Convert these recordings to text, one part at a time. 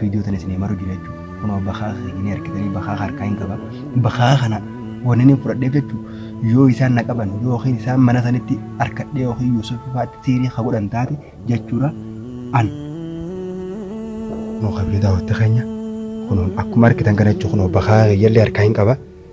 Video tana isinii maru jira jechu kunoo bakaaka keenya ni argitanii bakaaka harkaa hin qaba bakaaka kana wanni ni fudhadheef jechu yoo isaan na qaban yookiin isaan mana sanitti harkadhee yookiin Yuusuf faatti siirii ka godhan taate jechuudha an kunoo kabiri daawwatte keenya kunoo akkuma argitan kana jechu kunoo bakaaka keeyyallee harkaa hin qaba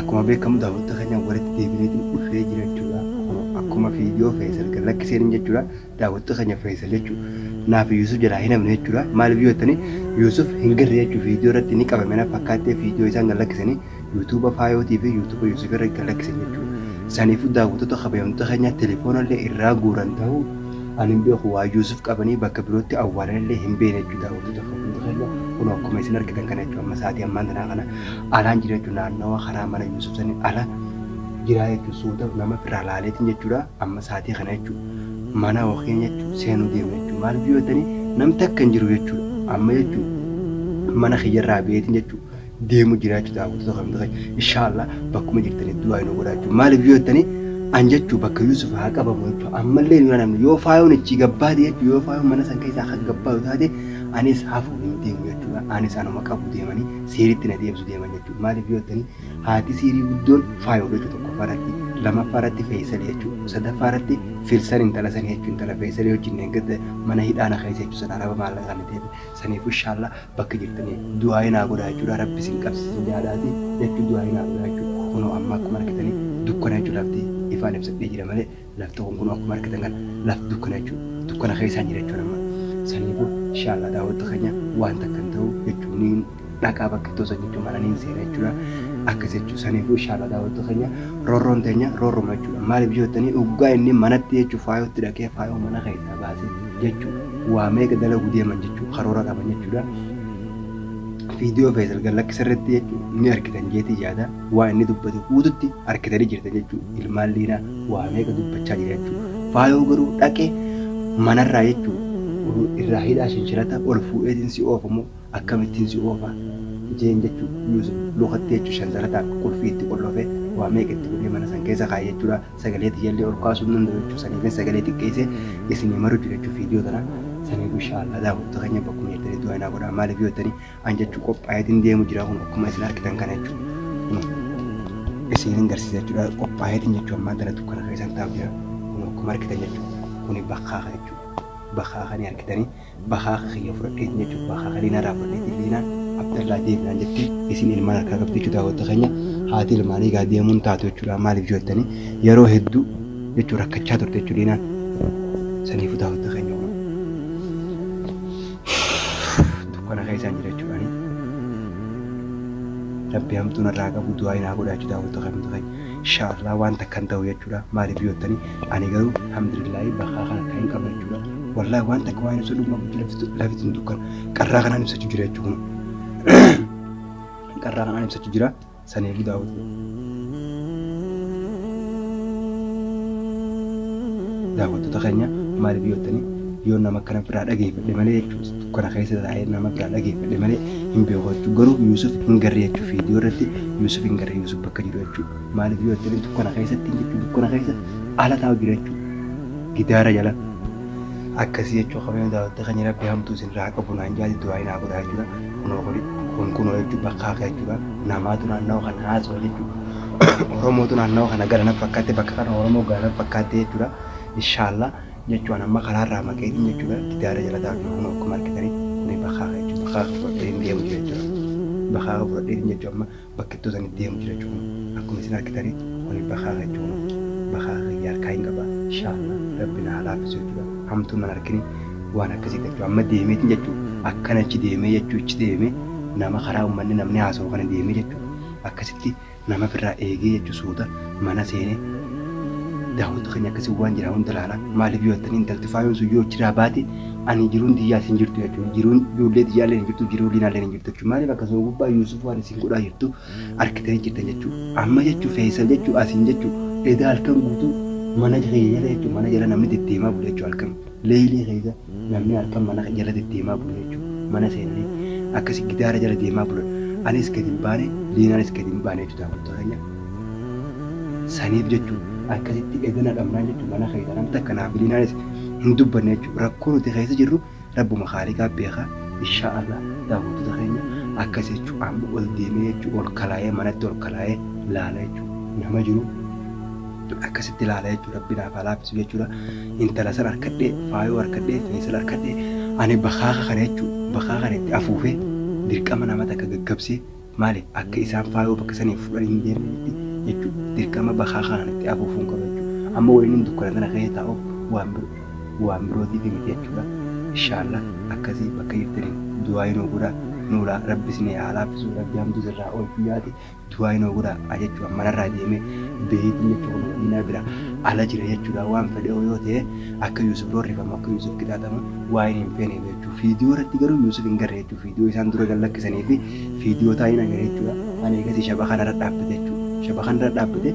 Akkuma beekamu daawwattoota keenya walitti deebineetiin dhufee jira jechuudha. Akkuma viidiyoo Feesal gad lakkiseen jechuudha. Daawwattoota keenya Feesal jechuun naafi Yuusuf jalaa hin hafne jechuudha. Maaliif yoo jettanii Yuusuf hin garre jechuun viidiyoo irratti ni qabame na fakkaattee viidiyoo isaan gad lakkisanii yuutuuba faayootii fi yuutuuba Yuusuf irra gad lakkisan jechuudha. Saniifuu daawwattoota kabajamtoota keenya telefoona illee irraa guuran ta'uu ani hin beeku waa Yuusuf qabanii bakka birootti awwaalan illee hin beekne jechuudha daawwattoota kabajamtoota keenya kun akkuma isin argitan kana jechuudha amma sa'aatii ammaan tanaa kana alaan jira jechuun naannawa karaa mana Yuusuf sani ala jiraa jechuun suuta nama firraa laaleetiin jechuudha amma saatii kana jechuudha mana yookiin jechuun seenuu deemna jechuudha maaliif yoo jettanii namni takka hin jiru jechuudha amma jechuun mana kiyyarraa beetiin jechuudha deemu jira jechuudha daawwattoota kan ta'e inshaallah bakkuma jirtanii du'aa hin godhaa jechuudha maaliif yoo jettanii an jechuu bakka Yuusuf haa qabamu jechuu ammallee nu namni yoo faayoon ichi gabbaate jechuu yoo faayoon mana san keessaa akka gabbaaru taate anis hafuun hin deemu jechuudha anis anuma qabu deemanii siiritti na deebisu deeman jechuudha. Maaliif yoo jettanii haati siirii guddoon faayoodha jechuudha tokkoffaa irratti lamaffaa irratti feesali jechuudha sadaffaa irratti filsan intala sanii jechuudha intala feesali wajjin eeggata mana hidhaana keessa jechuudha sana araba maallaqa kana ta'e saniifuu inshaallah bakka jirtanii du'aa'ii naa godhaa jechuudha rabbi sin qabsiisin yaadaati jechuudha du'aa'ii naa godhaa jechuudha kunoo amma akkuma argitanii dukkana jechuudha lafti ifaan ibsadhee jira malee Lafti kun kunoo akkuma argitan kana lafti dukkana jechuudha. Dukkana keessaan jira jechuudha amma. Sanii boo inshaa Allah daawwatta keenya waan takka hin ta'u jechuun niin dhaqaa bakka iddoo san jechuun mana niin seena jechuudha. Akkas jechuudha. Sanii boo inshaa Allah daawwatta keenya roorroon teenya roorruma jechuudha. Maaliif yoo jettanii oggaa inni manatti jechuun faayootti dhaqee faayoo mana keessaa baasee jechuun waa meeqa dalagu deeman jechuun karoora qaban jechuudha. Viidiyoo Feesal Gallakkisarratti jechuun ni argitan jeetii yaada. Waan inni dubbate huudutti arkitani jirtan jechuu ilmaan liinaa waa meeqa dubbachaa jira jechuu faayoo garuu dhaqee manarraa jechuu oduu irraa hidhaa shanshalataa ol fuudheetin si oofa moo akkamittin si oofa jeen jechuu yuusuf lukatti jechuu shansalataan qulfii itti qollofee waa meeqa itti godhee mana san keessa kaa'e jechuudha sagalee tiyyallee ol kaasuu hin danda'u jechuu saniifin sagalee xiqqeessee isinii maru jira jechuu fiidiyoo tana saniif inshaa Allah daawwattoota keenya bakkuma jirtanitti du'aa'ii naa godhaa maaliif yoo jettanii an jechuu qophaayeetiin deemu jira kun akkuma isin argitan kana jechuudha. Kun isinin garsiisa jechuudha qophaayeetiin jechuu ammaa tana dukkana keessan taa'u jira kun akkuma argitan jechuudha. Kuni bakkaaka jechuudha. Bakkaaka ni argitanii bakkaaka kiyya fudhadheetiin jechuudha bakkaaka liinaa irraa fudhadheetiin liinaan abdallaa deemnaan jettee isin ilmaan harkaa qabdi jechuudha daawwatta keenya haati ilmaanii egaa deemuun taatu jechuudha maaliif jettanii yeroo hedduu jechuun rakkachaa turte jechuudha liinaan saniifuu daawwatta keenya kun. dukkana keessaan jira jechuudhaani. Rabbi hamtuu narraa qabu du'aa inaa godhaa jechuudha hawwattoota hawwattoota keenya. Inshaallah waan takkan ta'u jechuudha maaliif yoo ta'ani ani garuu alhamdulillahi bakka kana kan hin qabne jechuudha. Wallahi waan takka waan ibsu dhuguma bulchu lafti lafti hin dukkana qarraa kanaan ibsachuu jira jechuudha. Qarraa kanaan ibsachuu jira. Sanii budaa hotii. Daawattota kenya maalif yoottani yoo nama akkana biraa dhageefadhe malee jechu kana keessa taa'ee nama biraa dhageefadhe malee hin beeku jechu garuu yuusuf hin garre jechu video irratti yuusuf hin garre yuusuf bakka jiru jechu maalif yoottani dukkana keessatti jechu dukkana keessa ala taa'u jira jechu gidaara jala akkasii jechu qabeen daawattota kenya rabbi hamtuu isin irraa qabu naan jaati du'aa hin haa godhaa jechuudha. Kunoo kuni kun kunoo jechuun bakkaa ka'e jechuudha. Namaatu naannawa kana haasawa jechuudha. Oromootu naannawa kana gara naf fakkaatte bakka kana Oromoo gara naf fakkaatte jechuudha. Inshaallah jechuun amma karaarraa maqeetiin jechuudha. Gidaara jala taa'u kunoo akkuma argitanii kuni bakkaa ka'e jechuudha. Bakkaa ka'e fudhadhee hin deemu jechuudha. Bakkaa ka'e fudhadheetiin jechuudha amma bakkittuu sani deemu jira jechuun akkuma isin arkitani kuni bakaaka jechuun bakaaka kiyya harkaa hin qaba inshallah rabbi na haa laaffisu jechuudha hamtuun nan arkini waan akkasii jechuudha amma deemeetin jechuu akkana achi deemee jechuu ichi deeme nama karaa ummanni namni haasa'u kana deemee jechuu akkasitti nama firraa eegee jechuu suuta mana seene daawwattu keenya akkasii waan jira hunda laala maaliif yoo jettanii intalti faayoon sun yoo achiraa baate ani jiruun tiyyaas hin jirtu jechuudha jiruun ijoollee tiyyaallee hin jirtu jiruu liinaallee hin jirtu jechuudha maaliif akkasuma gubbaa yuusuf waan isin godhaa jirtu arkitanii jirtan jechuu amma jechuu feesal jechuu asiin jechuu edaa halkan guutuu mana kiyya jala jechuu mana jala namni deddeemaa bula jechuu halkan leeyilii keessa namni halkan mana jala deddeemaa bula jechuu mana seenanii akkasi gidaara jala deemaa bulan anis gad hin baane liinaanis gad hin baane jechuu daawwattoota keenya saniif jechuu akkasitti edana dhabnaan jechuu mana keessa namni takka naaf liinaanis hin dubbanne jechuu rakkoo nuti keessa jirru Rabbuma khaaliqaa beeka inshaa Allah daawwattoota keenya akkas jechuun amma ol deemee jechuun ol kalaayee manatti ol kalaayee laala jechuun nama jiru akkasitti laala jechuun rabbi naaf haa laaffisu jechuudha intala san harkadhee faayoo harkadhee feesal harkadhee ani bakaaka kana jechuun bakaaka kana itti afuufee dirqama nama takka gaggabsee Maaliif akka isaan faayoo bakka sanii fudhan hin deemnetti jechuun dirqama bakaa kanaan itti afuufuun qaba jechuudha. Amma wayiniin dukkana tana keessa taa'uuf waan biro waan birootiif miti jechuudha. Ishaallah akkasii bakka jirtaniin du'aayii nuu godhaa nuulaa rabbi isinii haa laaffisuu rabbi hamtuu sirraa oolchuu yaati du'aayii nuu godhaa a jechuudha manarraa deemee beeyitiin jechuudha kunoo madiinaa bira ala jira jechuudha waan fedheoo yoo ta'e akka yuusuf roorrifamu akka yuusuf qixaaxamu waa'een hin feeneef jechuu fiidiyoo irratti garuu yuusuf hin garre jechuu fiidiyoo isaan dura gad lakkisaniifi Video taa'een agaree jechuudha. Ani eegasii shabakaa narra dhaabbate jechuudha. Shabakaa narra dhaabbate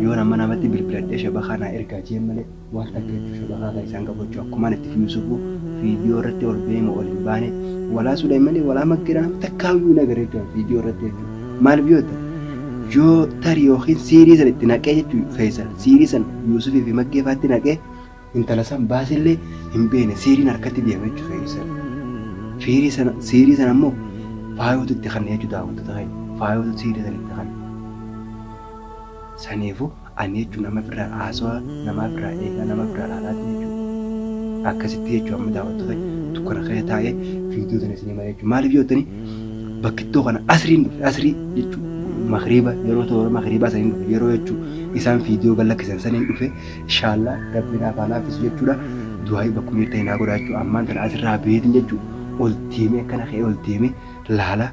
yoon amma namatti bilbiladhee shabakaa naa ergaa jeen malee waan takka jechuudha shabakaa kan isaan qabu jechuudha. Akkumaan itti fi Yusufu video irratti ol ba'ee moo ol hin baane walaa Suleeymanii walaa Maggeera nam takkaa iyyuu hin agarre jechuudha video irratti jechuudha. Maaliif yoo ta'e yoo tarii yookiin siirii san itti naqee jechuudha Feesal siirii san Yusufii fi Maggee faatti naqee Intala san baasillee hin beekne siiriin harkatti deema jechuun feerii sana. Fiirii sana siirii sana immoo faayootu itti kanne jechuun daawwattoota keenya. Faayootu siirii sana itti kanne. Saniifu ani jechuun nama firraa haasawaa namaa firraa eegaa nama firraa laalaatiin jechuudha. Akkasitti jechuun amma daawwattoota dukkana keessa taa'ee fiidiyoo sana isinii malee jechuudha. Maaliif jettanii bakkittoo kana asriin dhufe asrii jechuun makriiba yeroo toora makriibaa saniin dhufe yeroo jechuun isaan fiidiyoo gad lakkisan saniin dhufe Ishaallah rabbi naaf haa laaffisu jechuudha du'aa'ii bakkuma jirta hinaa godhaa jechuudha ammaan tana asirraa beetin jechuudha ol deemee akkana ka'ee ol deemee laala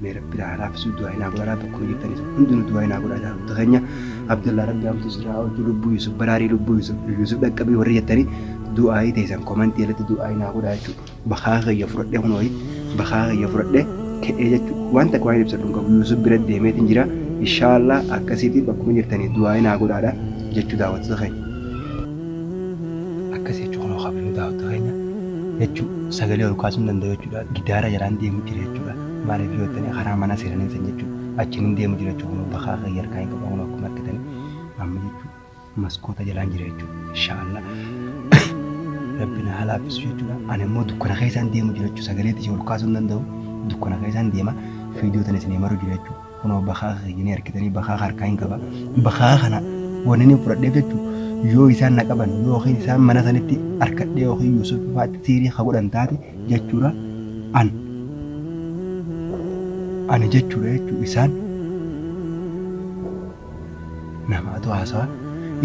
mee rabbi naa haa laaffisu du'aa'ii naa godhaa bakkuma jirtanis hundinuu du'aa'ii naa godhaa jaarota keenya abdallaa rabbi hamtuu sirraa oolchuu lubbuu yusuf baraarii lubbuu yusuf yusuf dhaqqabii warri jettanii du'aa'ii teessan komantii irratti du'aa'ii naa godhaa jechuudha. bakaa kiyya fudhadhee kunoo bakaa kiyya fudhadhee ka'ee jechuudha. Waan takka waan ibsadhu hin qabu. Yuusuf bira deemeetiin jira. Inshaallah akkasiitii bakkuma jirtanii du'aayi naa godhaadha jechuu daawwattoota keenya. Akkas jechuu kunoo kabajamuu daawwattoota keenya jechuu sagalee ol kaasuu hin danda'u jechuudha. Gidaara jalaan deemu jira jechuudha. Maaliif yoo jettanii karaa mana seenaniin san jechuu achiin hin deemu jira jechuu kunoo bakaa kiyya harkaa hin qabu kunoo akkuma argitanii amma jechuu. maskoota jalaan jira jechuudha. Inshaallah. Rabbi na haa laaffisu jechuudha. Ani immoo dukkana keessaan deemu jira jechuudha. Sagalee isin ol kaasuu hin danda'u. Dukkana keessaan deema. Fiidiyoo tan isin himaru jira jechuudha. Kunoo bakaa keenyanii harkitanii bakaa harkaa hin qaba. Bakaa kana wanni inni fudhadheef jechuudha. Yoo isaan na qaban yookiin isaan mana sanitti harkadhee yookiin Yuusuf faatti siirii ha godhan taate jechuudha. An ani jechuudha jechuudha isaan Namaatu haasawa.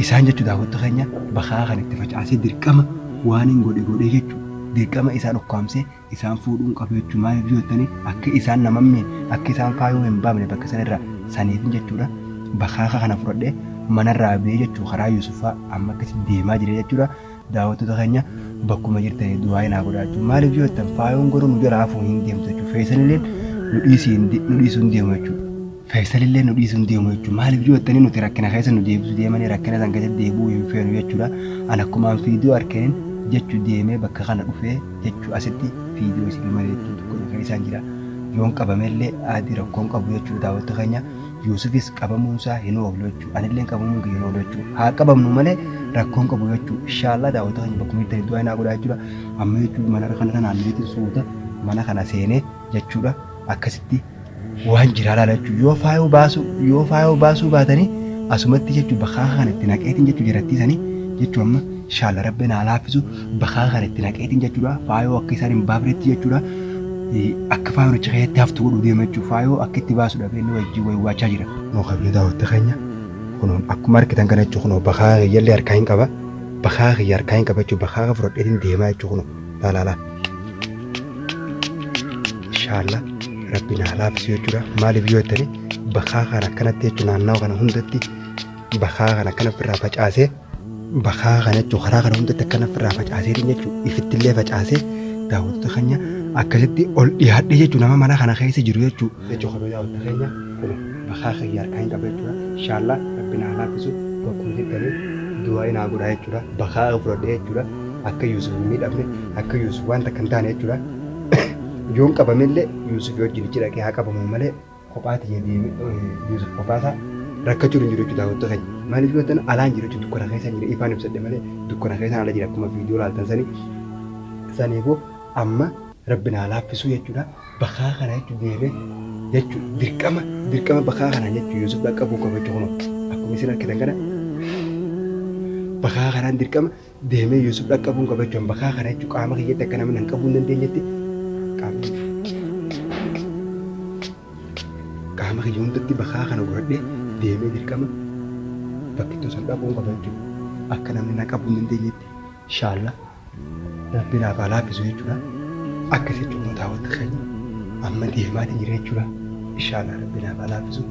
Isaan jechuun daawwattu keenya bakaa kan itti facaasee dirqama waaniin godhe godhee jechuun dirqama isaan ukkaamsee isaan fuudhuun qabu jechuun maaliif yoo jettanii akka isaan nama hin miine akka isaan faayuu hin baamne bakka san irraa saniifin jechuudha bakaaka kana fudhadhee manarraa bee jechuu karaa Yuusuffaa amma akkasi deemaa jira jechuudha daawwattoota keenya bakkuma jirtanii du'aayi naa godhaa jechuun maaliif yoo jettan faayuun garuu nu jala hafuu hin deemtu jechuun feesanilleen nu dhiisuu hin deemu jechuudha. Faysalillee nu dhiisu hin deemu jechuudha. Maaliif yoo jettanii nuti rakkina keessa nu deebisu deemanii rakkina san keessa deebi'uu hin feenu jechuudha. An akkumaan fiidiyoo arkeen jechu deemee bakka kana dhufee jechu asitti fiidiyoo isinii malee jechuun tokko na keessaan jira. Yoon qabamellee aadii rakkoo hin qabu jechuudha daawwatta keenya. Yuusufis qabamuun isaa hin oolu jechuudha. Anilleen qabamuun kiyya hin oolu jechuudha. Haa qabamnu malee rakkoo hin qabu jechuudha. Inshaallah daawwatta keenya bakkuma jirtanii du'aa inaa godhaa jechuudha. Amma jechuudha mana kana kanaan beekin suuta mana kana seenee jechuudha akkasitti waan jiraa laala jechuudha yoo faayoo baasuu yoo faayoo baasuu baatanii asumatti jechuudha bakaa kan itti naqeetiin jechuudha jarattii sanii jechuudha amma inshaalla rabbi naa laaffisu bakaa kan itti naqeetiin jechuudha faayoo akka isaan hin baafnetti jechuudha akka faayoon achi keessatti haftu godhuu deema jechuudha faayoo akka itti baasudha beelli wajjin wayii waachaa jira. Nuu qabnee daawwatta keenya kunuun akkuma argitan kana jechuudha kunoo bakaa kiyyalle harkaa hin qaba bakaa kiyya harkaa hin qaba jechuudha bakaa fudhadheetiin deemaa jechuudha kunoo laalaalaa. Inshaalla rabbi naa laafisi yoo jira maaliif yoo jettani bakaa kana akkanatti jechuun naannawa kana hundatti bakaa kana akkana ofirraa facaasee bakaa kana jechuun karaa kana hundatti akkana ofirraa facaasee jechuun ifittillee facaasee daawwattoota keenya akkasitti ol dhiyaadhee jechuun nama mana kana keessa jiru jechuun Lachuu kabaja waqti keenya kuni bakaa kiyya harkaa hin qaba jechuudha inshallah rabbi naa laaffisu bakkuma jirtani du'aayi naa godhaa jechuudha bakaa kiyya fudhadhe jechuudha akka yuusuf hin miidhamne akka yuusuf waan takka hin taane jechuudha yoon qabame illee yuusuf wajjin ichi dhaqee haa qabamu malee kophaa tiyya deeme yuusuf kophaa isaa rakkachuu hin jiru jechuudha daawwattu keenya maaliif yoo ta'an alaan jira jechuudha dukkana keessa jira ifaan ibsadhe malee dukkana keessa ala jira akkuma viidiyoo laaltan sanii saniifuu amma rabbi naa laaffisuu jechuudha bakaa kana jechuun deemee jechuun dirqama dirqama bakaa kana jechuun Yuusuf dhaqqabuu qaba jechuun kunoo akkuma isin arkitan kana bakaa kanaan dirqama deemee Yuusuf dhaqqabuu qaba jechuun bakaa kana jechuun qaama kiyyatti akka namni hin qabuu hin dandeenyetti qaamni qaama kiyya hundatti bakaa kana godhadhee deemee dirqama bakkittuu san dhaquun qaba jechuudha. Akka namni na qabuu hin dandeenyetti. Inshaalla rabbi naaf haa laafisu jechuudha akka jecha ummataa waqti keenya amma deemaati jira jechuudha inshaalla rabbi naaf haa laafisu.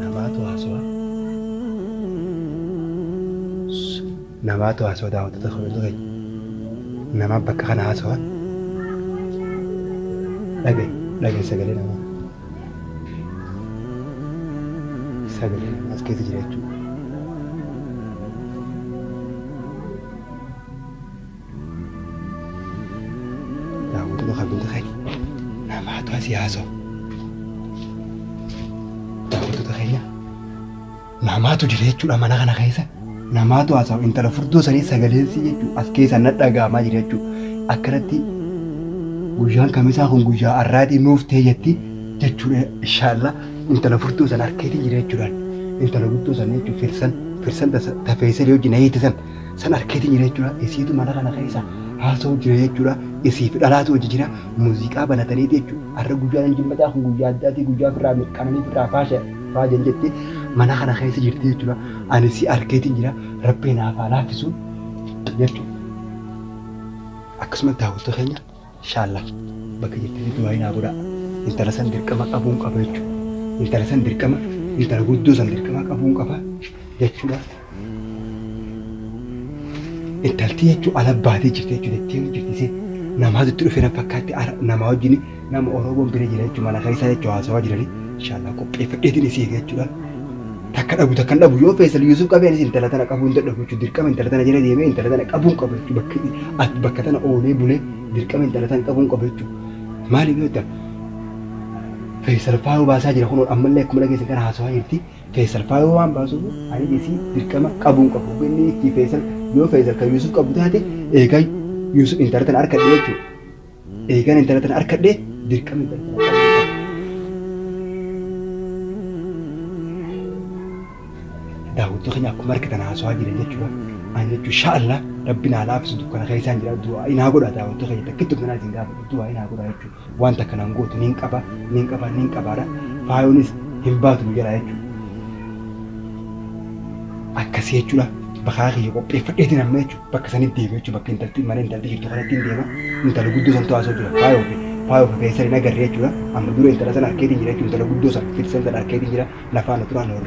Namaatu haasawaa. Namaatu haasawaa daawwattoota kabajamtoota keenya. Namaa bakka kana haasawaa dhage dhage sagalee namaa sagalee namaa as keessa jira jechuudha. Daawwattoota kabajamtoota keenya namaatu asii haasawa. Daawwattoota keenya. Namaatu jira jechuudha mana kana keessa. Namaatu haasa'u intala furdoo sanii sagaleensi jechuudha as keessa na dhaga'amaa jira jechuudha. Akkanatti guyyaan kamisaa kun guyyaa har'aatii nuuf ta'e jetti jechuudha inshaallah intala furdoo sana harkeetiin jira jechuudhaan intala guddoo sana jechuudha firsan firsan tafeessan yoo jina hiite san san harkeetiin jira jechuudha isiitu mana kana keessa haasa'u jira jechuudha isiif dhalaatu hojii jira muuziqaa banataniiti jechuudha har'a guyyaan hin jimmataa kun guyyaa addaatii guyyaa firraa mirqaananii firraa faasha Faajan jettee mana kana keessa jirti jechuudha. Ani si arkeetiin jira rabbii naaf haa laaffisu jechuudha. Akkasumatti daawwattuu keenya inshaalla bakka jirtanii du'aayi naa godhaa. Intala san dirqama qabuun qaba jechuudha. Intala san dirqama intala guddoo san dirqama qabuun qaba jechuudha. Intalti jechuun ala baatee jirti jechuun dettee jirti isiin namaa dutti dhufee nan fakkaatti ara namaa wajjin nama Oromoon bira jira jechuun mana keessaa jechuun haasawaa jirani inshallah qopheeffadheetiin isii eega jechuudha takka dhabu takka dhabu yoo feesal Yuusuf qabee anis intala tana qabuu hin dadhabu jechuun dirqama intala tana jala deemee intala tana qabuun qaba jechuun bakka at bakka tana oolee bulee dirqama intala tana qabuun qaba jechuun maaliif yoo ta'u feesal faayoo baasaa jira kunoo ammallee akkuma dhageessan kana haasawaa jirti Feesal faayoo waan baasuufu ani isii dirqama qabuun qabu hogga inni hiikkii feesal yoo feesal kan yuusuf qabu taate eegan yuusuf intala tana arkadhe jechuudha eegan intala tana arkadhe dirqama intala tana qabuun qabu. daawwattoota keenya akkuma argitan haasawaa jiran jechuudha. Ani jechuun sha'alla rabbi naa laafisu dukkana keessaan jira du'aa inaa godha daawwattoota keenya takkitti of nanaa isin gaafadha du'aa inaa godha jechuudha. wanta kana hin gootu nin qaba nin qaba nin qabaadha faayoonis hin baatu nu jalaa jechuudha. Akkasii jechuudha bakaa kiyya qopheeffadheetiin amma jechuudha bakka sanitti deema jechuudha bakka intalti mana intalti jirtu kanatti hin deema intala guddoo santu haasoo jira faayoo fi faayoo fi feesar hin agarre jechuudha amma dura intala sana arkeetiin jira jechuudha intala guddoo sana fitisan sana arkeetiin jira nafaan turaa na hordofaa.